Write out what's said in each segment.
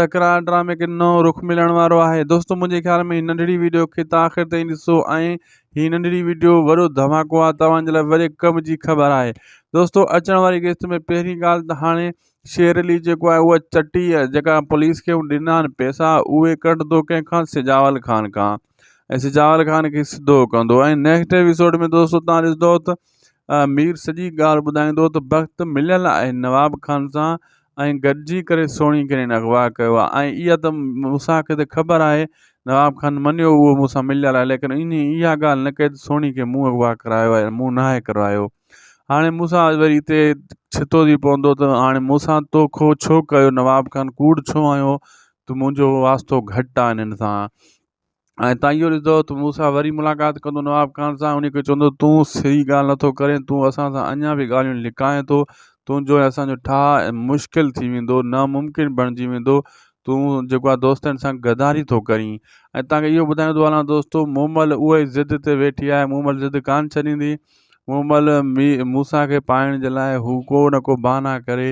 تڪرار ڊرامي کي نئون رخ ملڻ وارو آهي دوستو منهنجي خيال ۾ هي ننڍڙي ويڊيو کي ته آخر تائين ڏسو ۽ هي ننڍڙي ويڊيو وڏو ڌماڪو آهي توهان جي لاء وڏي ڪم جي خبر آهي دوستو اچڻ واري قسط ۾ پهرين ڳالهه ته هاڻي شير علي جيڪو آهي اها چٽي جيڪا پوليس کي ڏنا آهن پئسا اهي ڪڍندو ڪنهن کان سجاول خان کان ۽ سجاول خان کي سڌو ڪندو ۽ نيڪسٽ ايپيسوڊ ۾ دوستو تان ڏسندو ته مير سڄي ڳالهه ٻڌائيندو ته بخت مليل آهي نواب خان سان ۽ گڏجي ڪري سوڻي ڪرين اغوا ڪيو آهي ۽ اها ته موسا کي ته خبر آهي نواب خان منيو اهو موسا مليل آهي ليڪن ان اها ڳالهه نه ڪئي ته سوڻي کي مون اغوا ڪرايو آهي مون ناهي ڪرايو هاڻي موسا وري هتي ڇتو ٿي پوندو ته هاڻي موسا تو کو ڇو ڪيو نواب خان ڪوڙ ڇو آيو ته منهنجو واسطو گهٽ آهي انهن سان ۽ تان اهو ڏسندو ته مون سان وري ملاقات ڪندو نواب خان سان ان کي چوندو تون صحيح ڳالهه نٿو ڪرين تون اسان سان اڃا به ڳالهيون لڪائين ٿو تنهنجو ۽ اسانجو ٺاهه مشڪل ٿي ويندو ناممڪن بڻجي ويندو تون جيڪو آهي دوستن سان غداري ٿو ڪرين ۽ تان کي اهو ٻڌائيندو هلان دوستو مومل اهو ئي ضد تي ويٺي آهي مومل ضد ڪانه ڇڏيندي ان مهل موسيٰ کي پائڻ جي لاء هو ڪو نه ڪو بهانا ڪري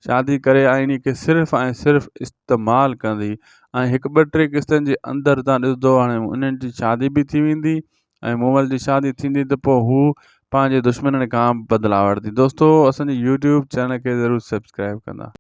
شادي ڪري آئيني کي صرف ۽ صرف استعمال ڪندي ۽ هڪ ٻه ٽي قسطن جي اندر تان ڏسندو هاڻي انهن جي شادي به ٿي ويندي ۽ مومل جي شادي ٿيندي ته پوء هو پنهنجي دشمنن کان بدلا وٺندي دوستو اسان جي يوٽيوب چينل کي ضرور سبسڪرائب ڪندا